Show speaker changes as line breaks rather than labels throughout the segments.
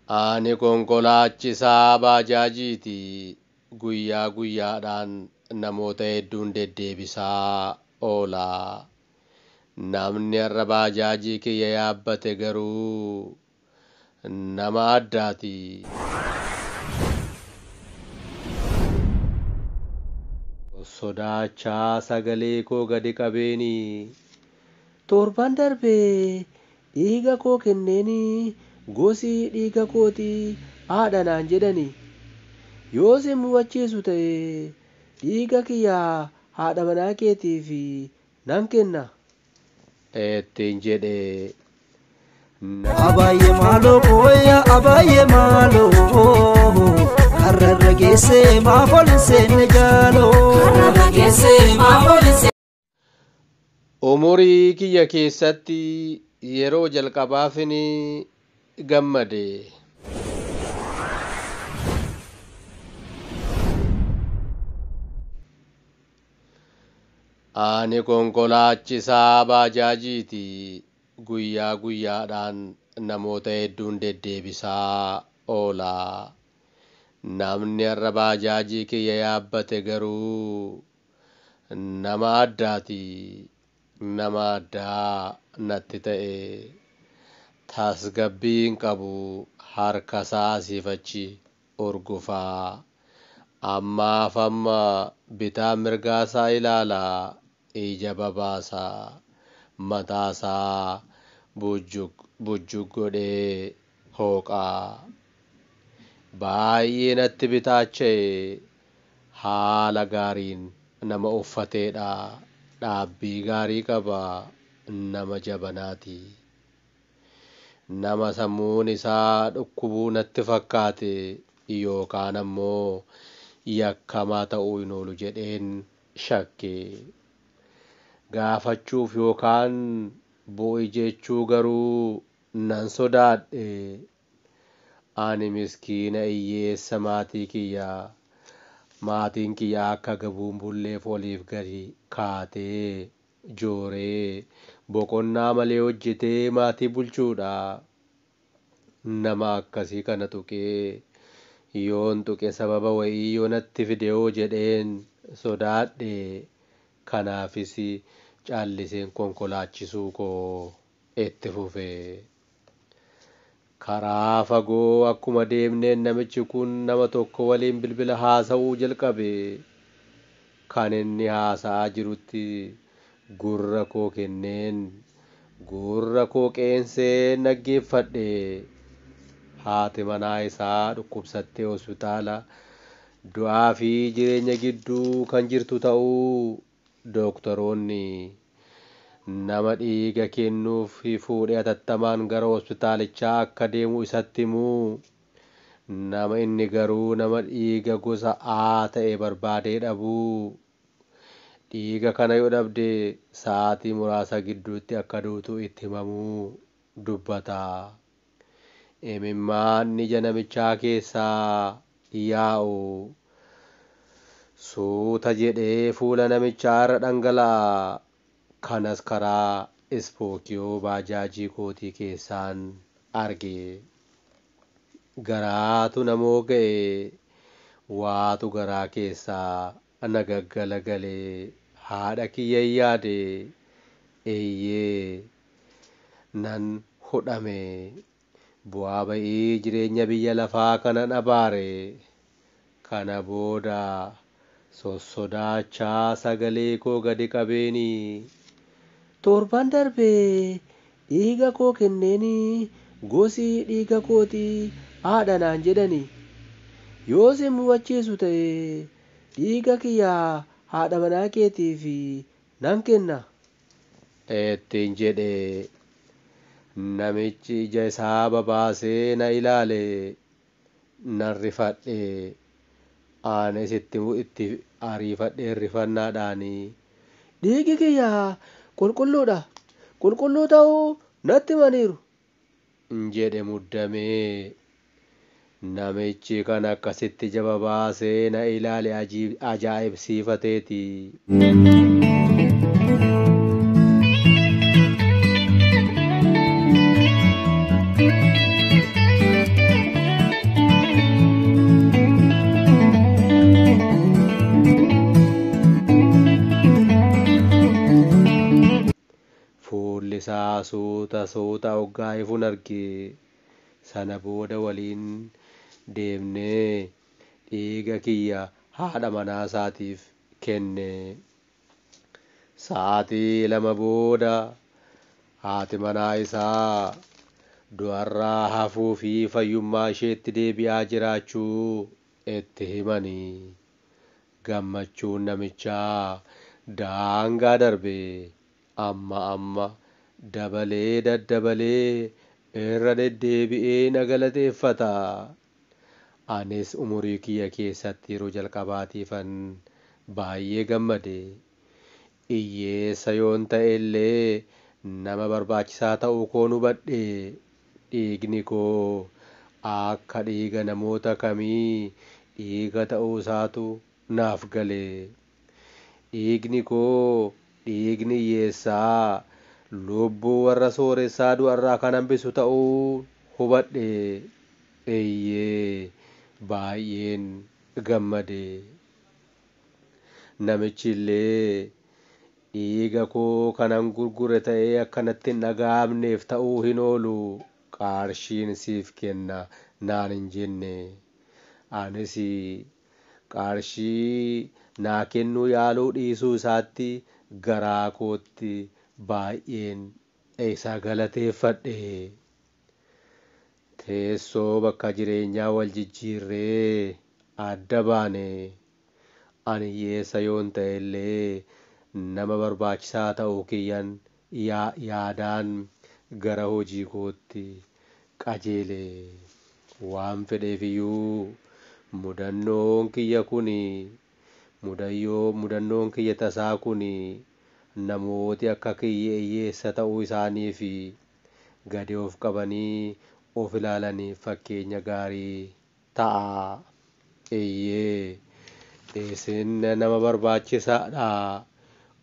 Ani konkolaachisaa baajaajiiti. Guyyaa guyyaadhaan namoota hedduun deddeebisaa oola. Namni har'a baajaajii kiyya yaabbate garuu nama addaati. Sodaachaa sagalee koo gadi qabeeni.
Torban darbe Dhiiga koo kenneeni, gosi dhiiga kooti aadha naan jedhani. Yoo si hin mufachiisu ta'e, dhiiga kiyya haadha manaa keetiif nan kenna.
ittiin jedhe.
Na. Abaayyee maaloo kooya abaayyee maaloo Karra irra geessee maaf ol hin seenne jaaloo. Karra irra geessee maaf ol hin seenne. Umurii
kiyya keessatti yeroo jalqabaafin gammade. Ani konkolaachisaa baajaajiiti. Guyyaa guyyaadhaan namoota hedduun deddeebisaa oola. Namni har'a baajaajii kiyya yaabbate garuu Nama addaati. Nama addaa natti ta'e. Tasgabbii hin qabu. Harkasaa asiif achi urgufa. Ammaaf amma bitaa mirgaasaa ilaala. Ija babaasa. Mataasaa bujjug bujjug godhee hooqaa. Baay'ee natti bitaacha'e haala gaariin nama uffateedha dhaabbii gaarii qaba nama jabanaati. Nama sammuun isaa dhukkubuu natti fakkaate yookaan ammoo yakkamaa ta'uu hin oolu jedheen shakke. Gaafachuuf yookaan bu'i jechuu garuu Nan sodaadhe. Ani miskiina iyyeessa maatii kiyya. Maatiin kiyya akka gabuun bulleef oliif gadi kaatee, jooree, boqonnaa malee hojjetee maatii bulchuudha. Nama akkasii kana tuqee, yoon tuqe sababa wayii yoo natti fidehoo jedheen sodaadhe. Kanaafis calliseen konkolaachisuu koo itti fufe. Karaa fagoo akkuma deemneen namichi kun nama tokko waliin bilbila haasa'uu jalqabe. Kan inni haasa'aa jirutti gurra koo kenneen gurra koo qeenseen dhaggeeffadhe. Haati manaa isaa dhukkubsattee hospitaala du'aa fi jireenya gidduu kan jirtu ta'uu Dooktaroonni nama dhiiga kennuuf fuudhe atattamaan gara hospitaalichaa akka deemu isatti himu. Nama inni garuu nama dhiiga gosa A ta'e barbaadee dhabu. Dhiiga kana yoo dhabde sa'aatii muraasa gidduutti akka duutu itti himamu dubbata. Imimmaan ija namichaa keessaa yaa'u suuta jedhee fuula namichaa irra dhangala'a, kanas karaa ispookiyoo baajaajii kootii keessaan arge. Garaatu na mooga'e, waatu garaa keessaa Ana gaggalagale haadha kiyyan yaade eeyyee nan hudhame bu'aa ba'ii jireenya biyya lafaa kanan abaare kana booda sossodaachaa sagalee koo gadi qabeeni.
Torban darbe Dhiiga koo kenneeni, gosi dhiiga kooti aadha naan jedhani. Yoo si hin mufachiisu ta'e, dhiiga kiyya haadha manaa keetiif nan kenna.
ittiin jedhe. Namichi ija isaa babaasee na ilaale. nan rifadhe aanes itti itti ariifadheen rifannaadhaan dhiigi
kiyya qulqulluudha qulqulluu ta'uu natti himaniiru jedhe
muddamee namichi kan akkasitti jababaa seena ilaale ajaa'ibsiifateeti. Fuulli isaa suuta suuta oggaa ifun arge. Sana booda waliin deemnee dhiiga kiyya haadha manaa isaatiif kenne. Sa'aatii lama booda haati manaa isaa du'arraa hafuu fi fayyummaa isheetti deebi'aa jiraachuu itti himani. Gammachuun namichaa daangaa darbe amma amma dabalee daddabalee irra deddeebi'ee na galateeffata Anis umurii kiyya keessatti yeroo jalqabaatiifan baay'ee gammade. Iyyeessa yoon ta'ellee nama barbaachisaa ta'uu koon hubadhe. Dhiigni koo akka dhiiga namoota kamii dhiiga ta'uusaatu naaf gale. Dhiigni koo dhiigni hiyyeessaa, lubbuu warra sooressaa du'arraa kan hambisu ta'uu hubadhe. Eeyyee, baay'een gammade. Namichi illee, Dhiiga koo kanan gurgure ta'ee akka natti hin dhaga'amneef ta'uu hin oolu, qarshiin siif kenna naan hin jenne. Anis Qarshii naa kennuu yaaluu dhiisuu isaatti garaa kootti baay'een isa galateeffadhe. Teessoo bakka jireenyaa wal jijjiirree adda baane. Ani hiyyeessa yoon ta'ellee nama barbaachisaa ta'uu kiyyan ya yaadaan gara hojii kootti qajeele. Waan fedheef iyyuu mudannoon kiyya kun mudayyoo mudannoon kiyya tasaa kun namooti akka kiyya iyyeessa ta'uu isaanii fi gadi of qabanii of ilaalaniif fakkeenya gaarii ta'a. Eeyyee, isin nama barbaachisaa dha.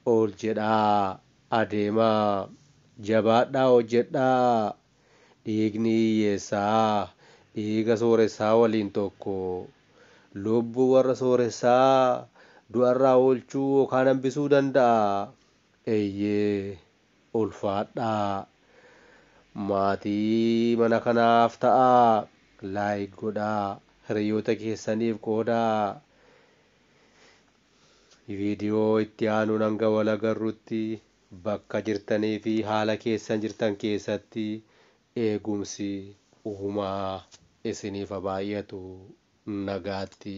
Ol jedhaa, adeemaa, jabaadhaa hojjedhaa. Dhiigni hiyyeessaa dhiiga sooressaa waliin tokko. Lubbuu warra sooressaa du'a irraa oolchuu yookaan hambisuu danda'a. Eeyyee, Ulfaadhaa. Maatii mana kanaaf ta'aa. Like godhaa. Hiriyoota keessaniif qoodaa. Video itti aanuun hanga wal agarrutti bakka jirtanii fi haala keessan jirtan keessatti eegumsi uumaa isiniif ha baay'atu. Nagaatti.